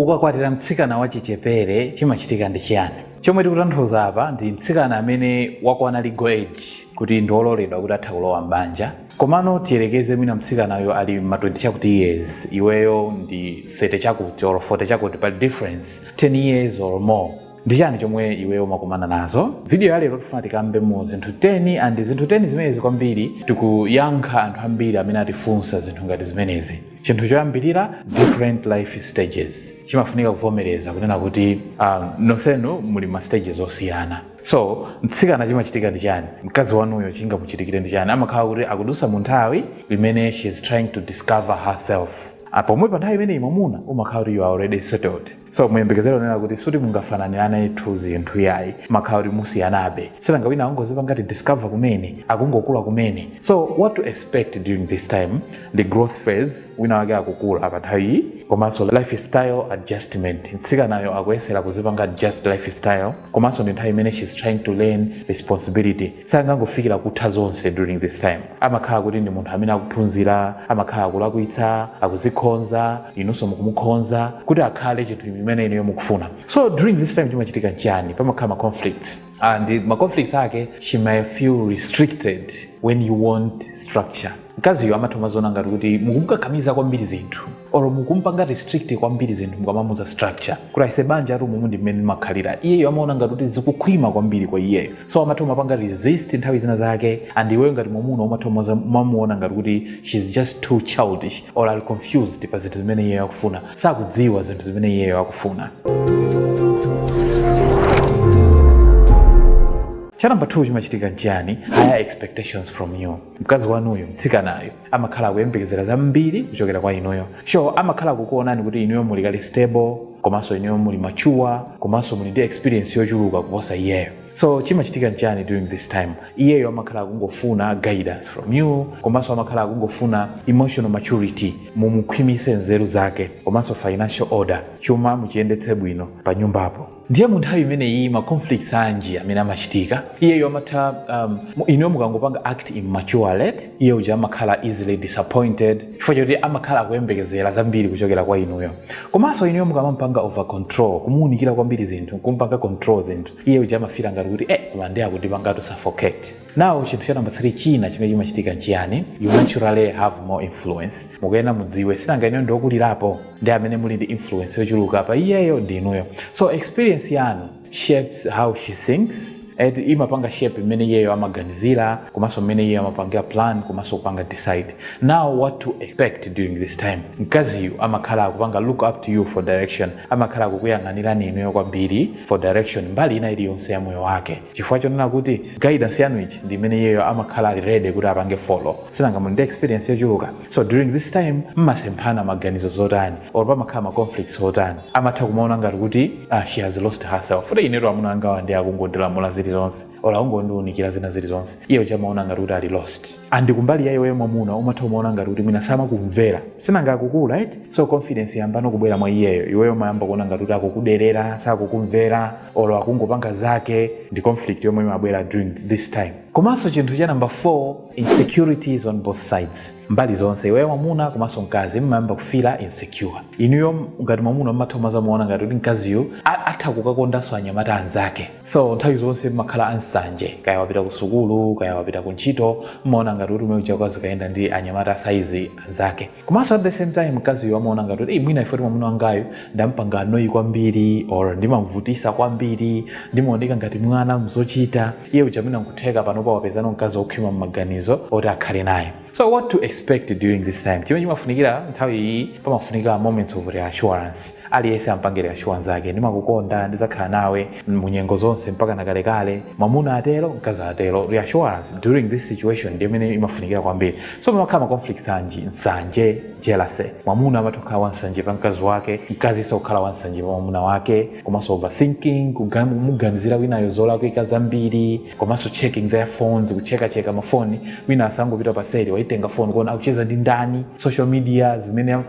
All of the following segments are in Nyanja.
Ukakwatira mtsikana wachichepere chimachitika ndi chiyani? Chomwe tikutanthauza apa ndi mtsikana amene wakwana legal age kuti ndi ololedwa kuti atha kulowa m'banja. Komano tiyerekeze mwina mtsikanayo ali ma 20 chakuti years iweyo ndi 30 chakuti or 40 chakuti pali difference 10 years or more. Ndi chani chomwe iweyo umakumana nazo? Video ya lero tifuna tikambe mu zinthu 10 and zinthu 10 zimenezi kwambiri tikuyankha anthu ambiri amene atifunsa zinthu ngati zimenezi. chinthu choyambirira different life stages chimafunika kuvomereza kunena kuti um, nonsenu muli ma stages osiyana so mtsikana chimachitika ndi chani mkazi wanuyo chingamuchitikire ndi chani amakhala kuti akudusa mu nthawi imene she is trying to discover herself Ah, pomwe pa nthawi imeneyi mwamuna umakhala kuti you are already settled so muyembekezere kunena kuti suti mungafananiranetu zinthu yayi mumakhala kuti musiyanabe sinanga wina akungozipanga discover kumene akungokula kumene so what to expect during this time ndi growth phase wina wake akukula pa nthawi iyi komanso lifestyle adjustment mtsikanayo akuyesera kuzipanga adjust lifestyle komanso ndi nthawi imene she's trying to learn responsibility sangangofikira kutha zonse during this time amakhala kuti ndi munthu amene akuphunzira amakhala akulakwitsa akuzikhonza inunso mukumukhonza kuti akhale chinthu chimene inuyo mukufuna so during this time chimachitika nchiyani pamakhala ma conflicts and ma conflicts ake she may feel restricted when you want structure mkaziyo amatha kumaziona ngati kuti mukumukakamiza kwambiri zinthu or mukumpanga restrict kwambiri zinthu mukamamuza structure kuti aise banjatu umu ndi mmene limakhalira iyeyo amaona ngati kuti zikukhwima kwambiri kwa iyeyo so amatha kumapanga resist nthawi zina zake and iweyo ngati mwamuna umatha umaza- umamuona ngati kuti shes just too childish or ali confused pa zinthu zimene iyeyo akufuna sakudziwa zinthu zimene iyeyo akufuna cha number 2 chimachitika nchiyani higher expectations from you mkazi wanuyo mtsikanayo amakhala akuyembekezera zambiri kuchokera kwa inuyo sure amakhala kukuonani kuti inuyo muli kale stable komanso inuyo muli mature komanso muli ndi experience yochuluka kuposa iyeyo so chimachitika nchani during this time iyeyo amakhala akungofuna guidance from you komanso amakhala akungofuna emotional maturity mumukhwimise nzeru zake komanso financial order chuma muchiyendetse bwino pa nyumbapo ndiye mu nthawi imeneyi ma conflicts anji amene amachitika iyeyo amatha um, mu- inuyo mukangopanga act immaturely iye uja amakhala easily disappointed chifukwa choti amakhala akuyembekezera zambiri kuchokera kwa inuyo komanso inuyo mukamampanga over control kumuunikira kwambiri zinthu kumpanga control zinthu iye uja amafila ngati kuti eh koma ndiye akundipangatu suffocate Now chinthu cha number 3 china chimene chimachitika nchiyani? You naturally have more influence. Mukuyenera mudziwe sinanga inuyo ndi okulirapo ndi amene muli ndi influence yochuluka pa iyeyo ndi inuyo. So experience yanu shapes how she thinks eti imapanga shape mmene iyeyo amaganizira komanso mmene iyeyo amapangira plan komanso kupanga decide now what to expect during this time mkaziyu amakhala akupanga look up to you for direction amakhala akukuyang'anirani inuyo kwambiri for direction mbali ina iliyonse ya moyo wake chifukwa chonena kuti guidance yanuyi ndi imene iyeyo amakhala ali ready kuti apange follow sinanga muli ndi experience yochuluka so during this time mmasemphana maganizo zotani or pamakhala ma conflicts otani amatha kumaona ngati kuti ah, she has lost herself kuti ineyo amuna angawa ndi akungondilamula zilizonse or akungondiunikira zina zilizonse iye uja amaona ngati kuti ali lost and kumbali ya iweyo mwamuna umatha kumaona ngati kuti mwina samakumvera sinanga akukula right so confidence yambano kubwera mwa iyeyo iweyo mayamba kuona ngati kuti akukuderera sakukumvera olo akungopanga zake ndi conflict yomwe imabwera during this time komanso chinthu cha number 4 insecurities on both sides mbali zonse iweyo mwamuna komanso mkazi mmayamba kufila insecure inuyo ngati mwamuna mmatha kumazaona ngati kuti mkaziyo a- atha kukakondanso anyamata anzake so nthawi zonse mmakhala ansanje kaya wapita ku sukulu kaya wapita ku ntchito mmaona ngati kuti mmene uja azikayenda ndi anyamata asaizi anzake komanso at the same time mkaziyo amaona ngati kuti "Ei, mwina ifoti mwamuna wangayu ndampanga annoy kwambiri or ndimamvutisa kwambiri ndimaoneka ngati mwana mzochita iye uja mwina nkutheka panopa wapezano mkazi wokhwima mmaganizo oti akhale naye So what to expect during this time? Chimene chimafunikira nthawi iyi pamafunika moments of reassurance. Aliyense ampange reassure nzake. Ndimakukonda, ndizakhala nawe munyengo zonse mpaka nakalekale. Mwamuna atero, mkazi atero. Reassurance during this situation ndi imene imafunikira kwambiri. So pamakhala ma conflicts anji, nsanje, jealousy. Mwamuna amatha kukhala wansanje pa mkazi wake, mkaziso kukhala wansanje pa mwamuna wake. komanso overthinking kumuganizira winayo zolakwika zambiri komanso checking their phones kuchekacheka mafoni wina asangopita paseri waitenga foni kuona akucheza ndi ndani social media zimenezi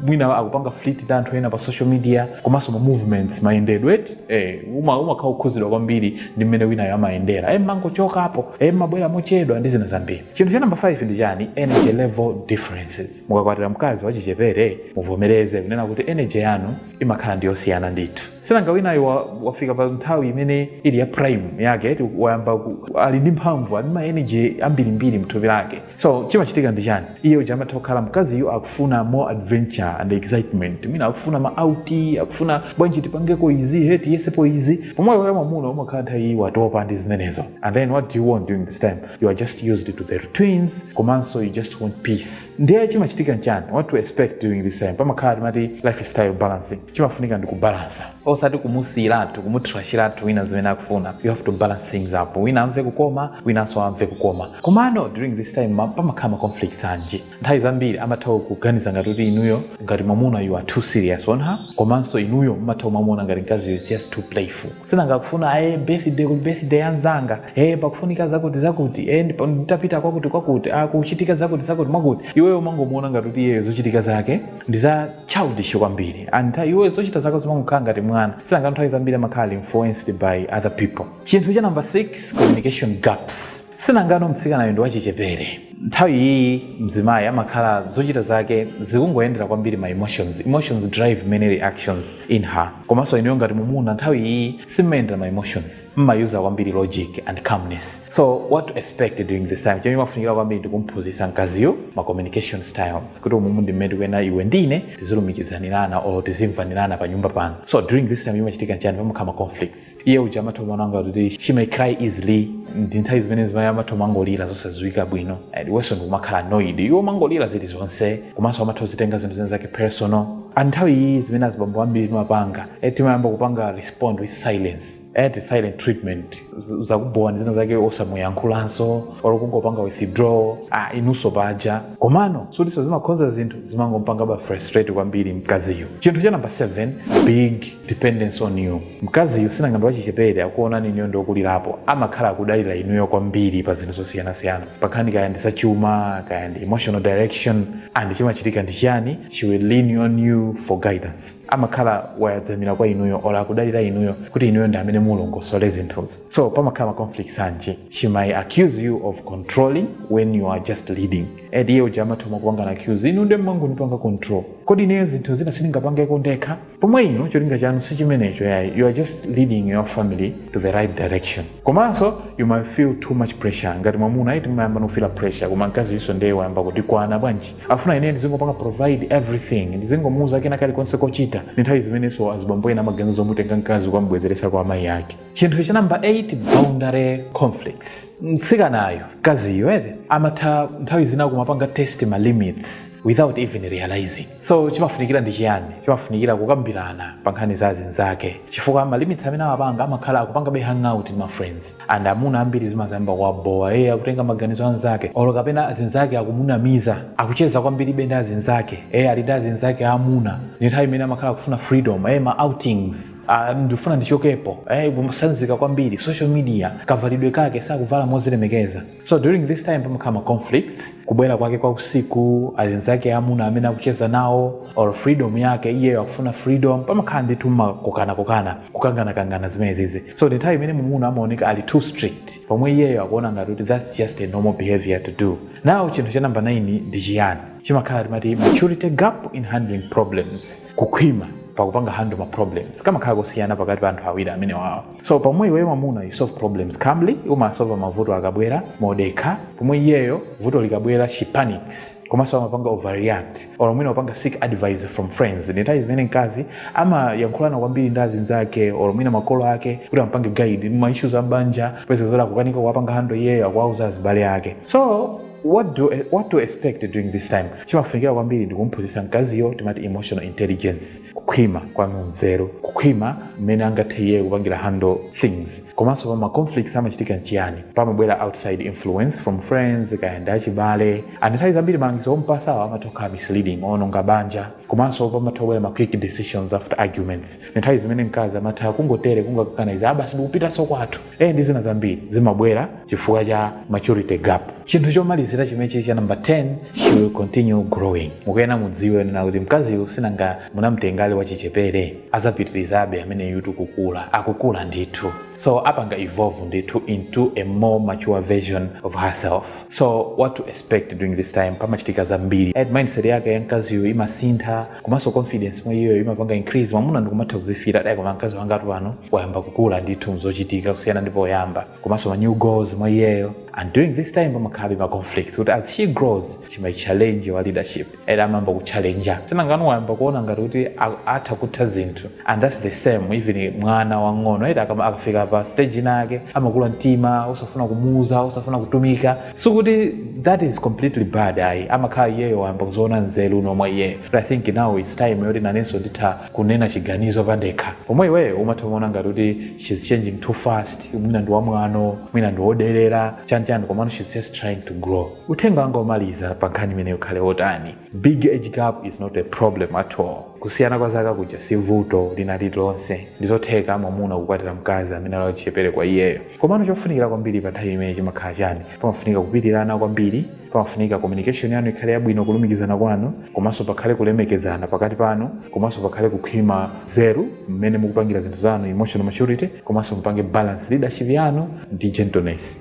mwina akupanga flirt ndi anthu ena pa social media komanso ma movements mayendedwe eti eh, uma umakhala okhuzidwa kwambiri ndi mmene winayo amayendera eh, mangochokapo eh, mabwera mochedwa ndi zina zambiri chinthu cha namba 5 ndi chani energy level differences mukakwatira mkazi wachichepere muvomereze kunena kuti energy yanu imakhala ndi yosiyana ndithu sinanga winayo wa- wafika pa nthawi imene ili ya prime yake eti wayamba ku- ali ndi mphamvu ali ndi ma energy ambirimbiri mthupi lake so chimachitika ndi chani iye uja amatha kukhala mkaziyo akufuna more adventure and excitement mwina akufuna ma out akufuna bwanji tipangeko izi he tiyesepo izi pomwe iwe mwamuna umakhala nthawi iyi watopa ndi zimenezo and then what do you want during this time you are just used to the routines komanso you just want peace ndiye chimachitika nchani what to expect during this time pamakhala timati lifestyle balancing chimafunika ndi kubalansa osati kumusiyiratu kumutrashiratu wina zimene akufuna you have to balance things up wina amve kukoma winanso amve kukoma komano during this time ma- pamakhala ma conflicts anji nthawi zambiri amatha kuganiza ngati kuti inuyo ngati mwamuna you are too serious on her komanso inuyo mumatha kumamuona ngati mkazi is just too playful sinanga kufuna eye birthday kuli birthday yanzanga e pakufunika zakuti zakuti e ndipo nditapita kwakuti kwakuti ah, kuchitika zakuti zakuti mwakuti iweyo umangomuona ngati kuti iyeyo zochitika zake ndi za childish kwambiri and nthawi- iweyo zochita zako zimangokhala ngati mwana sinanga nthawi zambiri amakhala influenced by other people chinthu cha number 6 communication gaps Sinangano mtsikanayu ndi wachichepere. Nthawi iyiyi mzimayi amakhala zochita zake zikungoyendera kwambiri ma emotions. Emotions drive many reactions in her. Komanso inuyo ngati mumuna nthawi iyiyi simumayendera ma emotions. Mmayuza kwambiri logic and calmness. So what to expect during this time? Chimene chimafunikira kwambiri ndi kumphunzitsa mkaziyu ma communication styles. Kuti umumu ndi mmene tikuyenera iwe ndi ine tizilumikizanirana or tizimvanirana panyumba pano. So during this time chimachitika nchani? Pamakhala ma conflicts. iye uja amatha kumaona ngati she may cry easily ndi nthawi zimene azimayi amatha kumangolira zosadziwika bwino and iwenso ndikumakhala annoyed iwo mangolira zilizonse komanso amatha kuzitenga zinthu zina zake personal and nthawi iyi zimene azibambo ambiri timapanga eh, timayamba kupanga respond with silence eh, ti silent treatment Z- zakubowani zina zake osamuyankhulanso or kungopanga withdraw ah, inunso paja komano sutiso zimakhonza zinthu zimangompangaba frustrate kwambiri mkaziyu chinthu cha number 7 big dependence on you mkaziyu sinanga ndi wachichepere akuonani inuyo ndi okulirapo amakhala akudalira inuyo kwambiri pa zinthu zosiyanasiyana pankhani kaya ndi zachuma kaya ndi emotional direction and chimachitika ndi chiyani she will lean on you for guidance amakhala wayadzamira kwa inuyo or akudalira inuyo kuti inuyo ndi amene mulongosole zinthuzo so pamakhala ma conflicts anji she might accuse you of controlling when you are just leading and iye uja amatha kukupangani accuse inu nde mmangondipanga control kodi ineyo zinthu zina sindingapangeko ndekha pomwe inu cholinga chanu si chimenecho yayi you are just leading your family to the right direction komanso you might feel too much pressure ngati mwamuna eti timayamba kufila pressure koma mkaziyunso ndeye wayamba kutikwana bwanji afuna ineyo ndizingopanga provide everything ndizingomuuza kena kalikonse kochita ndi nthawi zimenenso azibambo ena amaganizo zomutenga mkazi kukamubwezeretsa kwa amayi ake chinthu cha number 8 boundary conflicts mtsikanayo mkaziyo eti amatha nthawi zina kumapanga test ma limits without even realizing so chimafunikira ndi chiyani chimafunikira kukambirana pa nkhani za azinzake chifukwa ma limits amene amapanga amakhala akupangabe hangout ndi ma friends and amuna ambiri zimazayamba kuwabowa eye akutenga maganizo anzake olo kapena azinzake akumunamiza akucheza kwambiri be ndi azinzake eye ali ndi azinzake amuna ni nthawi imene amakhala akufuna freedom eye ma outings Ah, ndifuna ndichokepo eh, kusanzika kwambiri social media kavalidwe kake sakuvala mozilemekeza so during this time pamakhala ma conflicts kubwera kwake kwa usiku azinzake amuna amene akucheza nawo or freedom yake iyeyo akufuna freedom pamakhala ndithu makokanakokana kukanganakangana zimenezizi so ndi nthawi imene mwamuna amaoneka ali too strict pomwe iyeyo akuona ngati kuti that's just a normal behavior to do now chinthu cha namba 9 ndi chiyani chimakhala timati maturity gap in handling problems kukhwima pakupanga handle ma problems kumakhala kosiyana pakati pa anthu awiri amenewawa so pomwe iweyo mwamuna you solve problems calmly umasova mavuto akabwera modekha pomwe iyeyo vuto likabwera she panics komanso amapanga overreact or mwina kupanga seek advice from friends ndi nthawi zimene mkazi amayankhulana kwambiri ndi azinzake or mwina makolo ake kuti ampange guide ma issues a m'banja peza zoti akukanika kuwapanga handle iyeyo akuwauza azibale ake so what do, what to expect during this time chimafunikira kwambiri ndi kumphunzitsa mkaziyo timati emotional intelligence kukhwima kwa mu nzeru kukhwima mmene angathe iye kupangira handle things komanso pa ma conflicts amachitika nchiyani pamabwera outside influence from friends kaya ndi achibale and nthawi zambiri malangizo ompatsawo amatha kukhala misleading owononga banja komanso pamatha kubwera ma quick decisions after arguments ndi nthawi zimene mkazi amatha kungotere kungokangana izi ah basi ndikupitanso kwathu e ndi zina zambiri zimabwera chifukwa cha maturity gap chinthu chomalizira chimenechi cha number 10 she will continue growing mukuyena mudziwe kunena kuti mkaziyu sinanga munamtenga ali wachichepere azapitirizabe ameneyutu kukula akukula ndithu so apanga evolve ndithu into a more mature version of herself so what to expect during this time pamachitika zambiri and mindset yake ya mkaziyu imasintha komanso confidence mwa iyeyo imapanga increase mwamuna ndikumatha kuzifila kuti ayi koma mkazi wangatu pano wayamba kukula ndithu mzochitika kusiyana ndi poyamba komanso ma new goals mwa iyeyo and during this time pamakhalabe ma conflicts kuti as she grows she might challenge your leadership and amayamba kuchallenja si nanga ano wayamba kuona ngati kuti a- atha kutha zinthu and that's the same even mwana wang'ono eti akama- akafika pa stage inayake amakula mtima osafuna kumuuza osafuna kutumika sikuti that is completely bad ayi amakhala iyeyo wayamba kuziona nzeru umo mwa iyeyo but i think now its time yoti nanenso nditha kunena chiganizo pandekha pomwe iweyo umatha kuona ngati kuti shes changing too fast mwina ndi wamwano mwina ndi woderera chani chani komano shes just trying to grow uthenga wanga omaliza pa nkhani imeneyi ukhale wotani big age gap is not a problem at all kusiyana kwa zaka kuja si vuto lina lililonse ndizotheka mwamuna kukwatira mkazi amene ali wachichepere kwa iyeyo komano chofunikira kwambiri pa nthawi imene chimakhala chani pamafunika kupirirana kwambiri pamafunika communication yanu ikhale yabwino kulumikizana kwanu komanso pakhale kulemekezana pakati panu komanso pakhale kukhwima nzeru mmene mukupangira zinthu zanu emotional maturity komanso mupange balance leadership yanu ndi gentleness